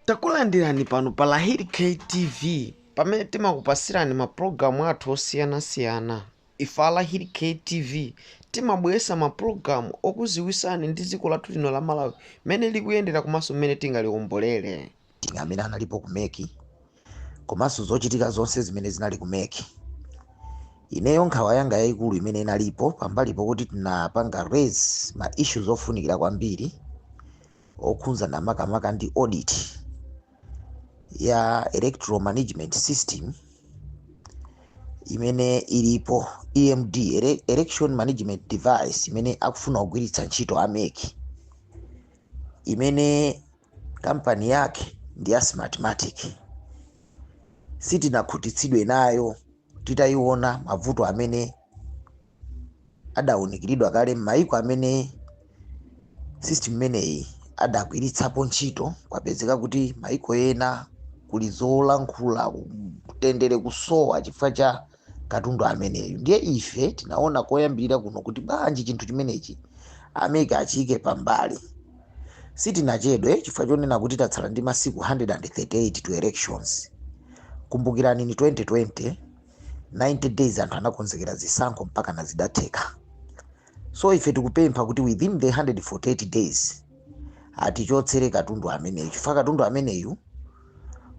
takulandirani pano pa lyric tv pamene timakupasirani mapulogalamu athu osiyanasiyana ife a lyric tv timabweretsa mapulogalamu okuziwisani ndi dziko lathu lino la malawi mmene likuyendera komanso mmene tingaliwombolere meeting amene analipo ku mec komanso zochitika zonse zimene zinali ku mec ineyo nkhawa yanga yayikulu imene inalipo pambali pokuti tinapanga raise ma issues ofunikira kwambiri okhudzana makamaka ndi audit ya electoral management system imene ilipo emd ele- election management device imene akufuna kugwiritsa ntchito a mec imene kampani yake ndi ya smartmatic sitinakhutitsidwe nayo titayiona mavuto amene adawunikiridwa kale m'mayiko amene system imeneyi adagwiritsapo ntchito kwapezeka kuti mayiko ena kuli zolankhula kutendere kusowa chifukwa cha katundu ameneyu ndiye ife tinaona koyambirira kuno kuti bwanji chinthu chimenechi a mec achiyike pambali sitinachedwe chifukwa chonena kuti tatsala ndi masiku 138 to elections kumbukirani ni 2020 90 days anthu anakonzekera zisankho mpaka na zidatheka so ife tikupempha kuti within the 138 days atichotsere katundu ameneyu chifukwa katundu ameneyu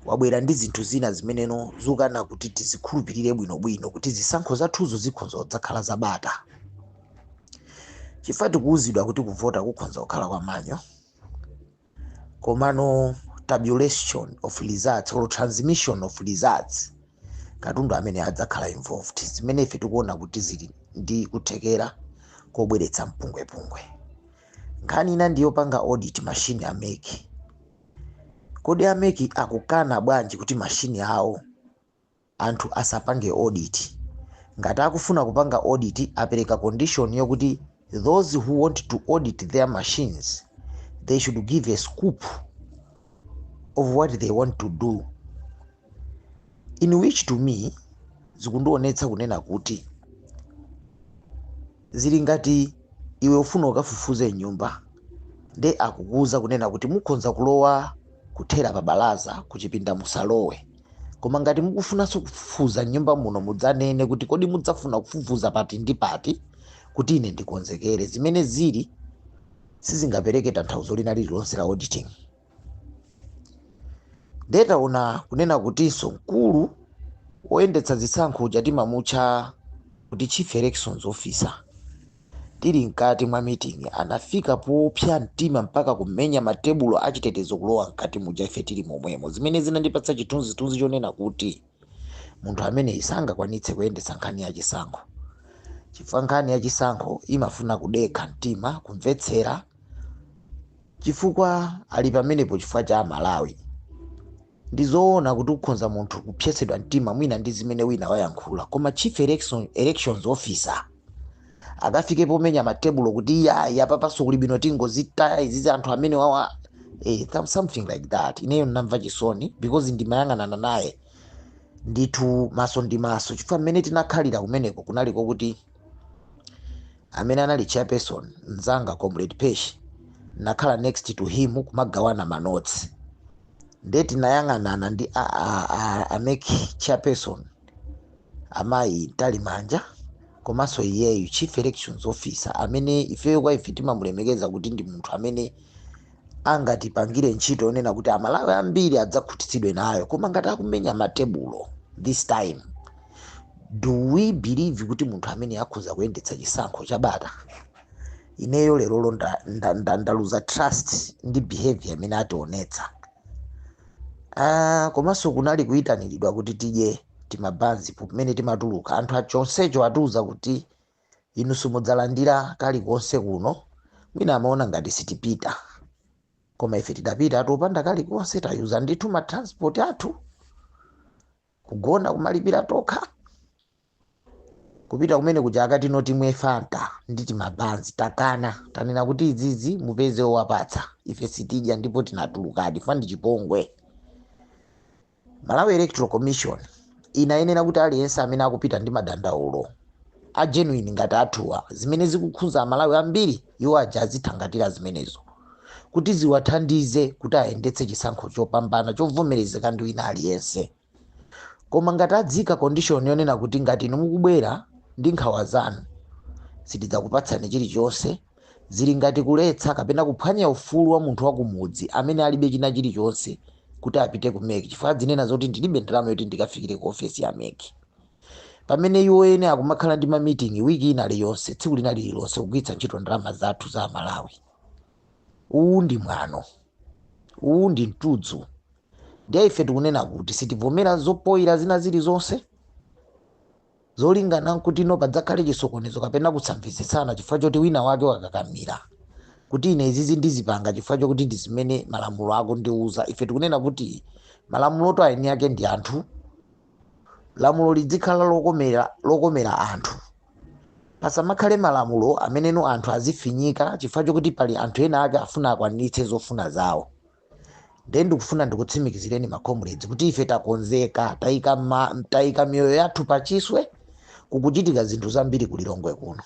wabwera ndi zinthu zina zimene zikukana kuti tizikhulupirire bwinobwino kuti zisankho zathuzo zikhonza kudzakhala za bata chifukwa tikuwuzidwa kuti kuvota kukhonza kukhala kwa manual komano tabulation of results or transmission of results katundu amene adzakhala involved zimene ife tikuona kuti zili ndi kuthekera kobweretsa mpungwepungwe nkhani ina ndi yopanga audit mashini a mec kodi a mec akukana bwanji kuti mashini awo anthu asapange audit. Ngati akufuna kupanga audit apereka condition yokuti those who want to audit their machines they should give a scope of what they want to do in which to me zikundionetsa kunena kuti Zili ngati iwe ufuna ukafufuze mnyumba nde akukuuza kunena kuti mukhonza kulowa kuthera pa balaza kuchipinda musalowe koma ngati mukufunanso kufufuza mnyumba muno mudzanene kuti kodi mudzafuna kufufuza pati ndi pati kuti ine ndikonzekere. Zimene zili sizingapereke tanthauzo lina lililonse la auditing. ndiye ndinaona kunena kutinso mkulu woyendetsa zisankho uja timamutcha kuti chief elections officer tili mkati mwa meeting anafika popsa mtima mpaka kumenya matebulo achitetezo kulowa mkati muja ife tili momwemo zimene zinandipatsa chithunzithunzi chonena kuti munthu ameneyi sangakwanitse kuyendetsa nkhani ya chisankho chifukwa nkhani ya chisankho imafuna kudekha mtima kumvetsera chifukwa ali pamenepo chifukwa cha amalawi ndi zoona kuti ukhonza munthu kupsetsedwa mtima mwina ndi zimene wina wayankhula koma chief elections officer akafike pomenya matebulo kuti iyayi apapanso kuli bwino tingozitaya izizi anthu amene wawa eh, some- something like that ineyo ndinamva chisoni because ndimayang'anana naye ndithu maso ndi maso chifukwa mmene tinakhalira kumeneko kunali kokuti amene anali chairperson mzanga comrade pesh nakhala next to him kumagawana manotsi nde tinayang'anana ndi a, a, a, a MEC chairperson amayi mtalimanja komanso iyeyu chief elections officer amene ifeyo kwa ife timamulemekeza kuti ndi munthu amene angatipangire ntchito yonena kuti amalawi ambiri adzakhutitsidwe nayo koma ngati akumenya matebulo this time do we believe kuti munthu ameneyu akhoza kuyendetsa chisankho cha bata ineyo lerolo ndaluza nda, nda, nda ndaluza trust ndi behavior imene ationetsa Ah, komanso kunali kuyitanidwa kuti tidye timabanzi pamene timatuluka anthu achonsecho atiuza kuti inu simudzalandira kalikonse kuno mwina amaona ngati sitipita koma ife tidapita atopanda kalikonse tayuza ndithu matransport athu kugona kumalipira tokha kupita kumene kuja akuti timwe fanta ndi timabanzi takana tanena kuti izizi mupeze owapatsa ife sitidya ndipo tinatulukadi chifukwa ndi chipongwe malawi electoral commission inayenera kuti aliyense amene akupita ndi madandaulo a genuine ngati athuwa zimene zikukhudza amalawi ambiri iwo aja azithangatira zimenezo kuti ziwathandize kuti ayendetse chisankho chopambana chovomerezeka ndi wina aliyense Koma ngati adziika condition yonena kuti ngati inu mukubwera ndi nkhawa zanu sitidzakupatsani chilichonse, zili ngati kuletsa kapena kuphwanya ufulu wa munthu wa kumudzi amene alibe china chilichonse kuti apite ku mec chifukwa adzinena zoti ndilibe ndalama yoti ndikafikire ku ofesi ya mec. Pamene iwo eni akumakhala ndi ma meeting week ina liyonse, tsiku lina lililonse kugwiritsa ntchito ndalama zathu za Amalawi. uwu ndi mwano uwu ndi mtudzu ndiye ife tikunena kuti sitivomera zopoira zina zilizonse zolingana nkuti no padzakhale chisokonezo kapena kusamvetsetsana chifukwa choti wina wake wakakamira kuti ine izizi ndizipanga chifukwa chokuti ndi zimene malamulo akundiuza ife tikunena kuti malamuloto aeni ake ndi anthu lamulo lidzikhala lokomera anthu pasamakhale malamulo ameneno anthu azifinyika chifukwa chokuti pali anthu ena ake afuna akwaniritse zofuna zawo ndiye ndikufuna ndikutsimikizireni ma comrades kuti ife takonzeka tayika miyoyo yathu pachiswe kukuchitika zinthu zambiri ku lilongwe kuno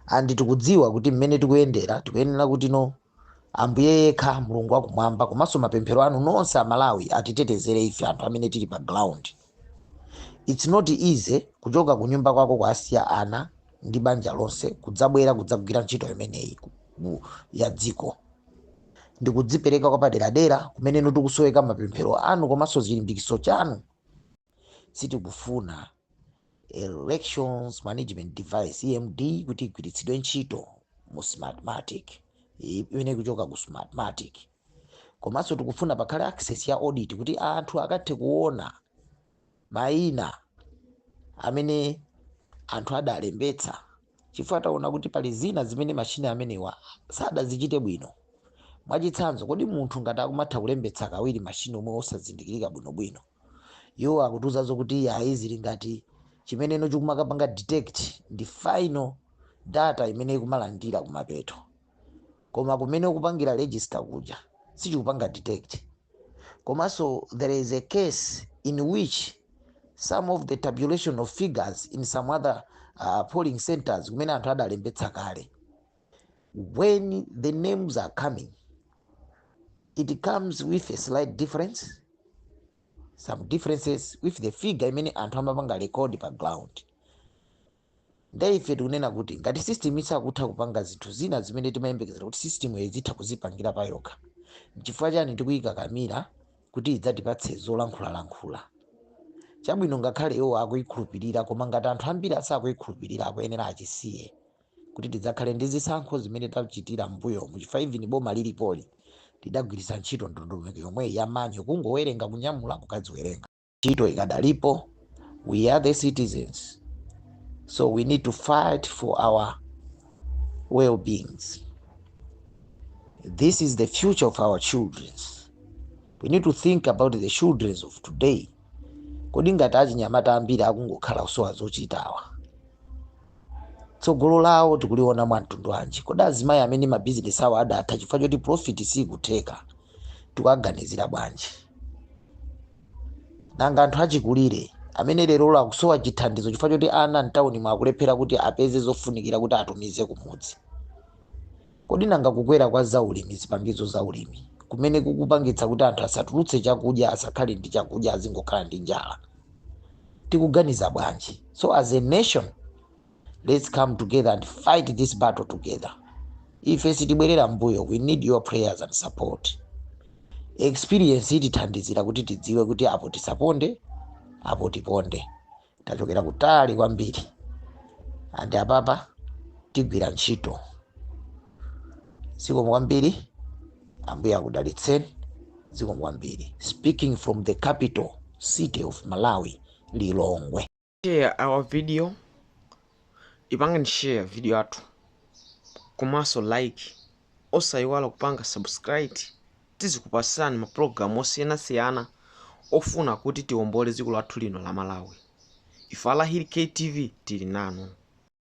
andi tikudziwa kuti mmene tikuyendera tikuyenera kuti no Ambuye yekha Mulungu wakumwamba komanso mapemphero anu nonse a Malawi atitetezere ife anthu amene tili pa ground. It's not easy kuchoka kunyumba kwako kuwasiya ana ndi banja lonse kudzabwera kudzagwira ntchito imeneyi ku- ku- ya dziko. Ndikudzipereka kwapaderadera kumeneno tikusoweka mapemphero anu komanso chilimbikitso chanu. sitikufuna elections management device emd kuti igwiritsidwe ntchito mu smartmatic i- imene ikuchoka ku smartmatic komanso tikufuna pakhale access ya audit kuti anthu akathe kuona mayina amene anthu adalembetsa chifukwa taona kuti pali zina zimene mashini amenewa sadazichite bwino mwachitsanzo kodi munthu ngati akumatha kulembetsa kawiri mashiniwo osazindikirika bwinobwino iwo akutiuzanso kuti iyayi zili ngati chimeneno chikumakapanga detect ndi final data imene ikumalandira kumapeto koma kumene ukupangira register kuja sichikupanga detect komanso there is a case in which some of the tabulation of figures in some other uh, polling centers kumene anthu adalembetsa kale when the names are coming, it comes with a slight difference, some differences with the figure imene anthu amapanga record pa ground. Ndiye ife tikunena kuti ngati system isakutha kupanga zinthu zina zimene timayembekezera kuti systemyo izitha kuzipangira pa yokha, n'chifukwa chani tikuyikakamira kuti idzatipatse zolankhulalankhula? Chabwino ngakhale iwo akuyikhulupirira koma ngati anthu ambiri asakuyikhulupirira akuyenera achisiye. kuti tidzakhale ndi zisankho zimene tachitira m'mbuyomu chifukwa even boma lilipoli lidagwiritsa ntchito ndondomeko yomweyi ya manual kungowerenga kunyamula kukadziwerenga ntchito ikadalipo we are the citizens so we need to fight for our well beings this is the future of our children we need to think about the children of today kodi ngati achinyamata ambiri akungokhala kusowa zochitawa tsogolo lawo tikuliona mwa mtundu wanji kodi azimayi amene mabizinesi awo adatha chifukwa choti profit sikutheka tikuwaganizira bwanji nanga anthu achikulire amene lero akusowa chithandizo chifukwa choti ana mtawuni mwakuti akulephera kuti apeze zofunikira kuti atumize kumudzi Kodi nanga kukwera kwa zaulimi, zipangizo za ulimi, kumene kukupangitsa kuti anthu asatulutse chakudya, asakhale ndi chakudya, azingokhala ndi njala? Tikuganiza bwanji? So as a nation, let's come together and fight this battle together. Ife sitibwerera m'mbuyo, we need your prayers and support. Experience itithandizira kuti tidziwe kuti apo tisaponde, apo tiponde. tachokera kutali kwambiri and apapa tigwira ntchito zikomo kwambiri ambuye akudalitseni zikomo kwambiri speaking from the capital city of malawi lilongwe share our video ipangani share video yathu komanso like osayiwala kupanga subscribe tizikupasilani ma program osiyanasiyana ofuna kuti tiombole dziko lathu lino la malawi. Ife a lahir ktv tili nanu.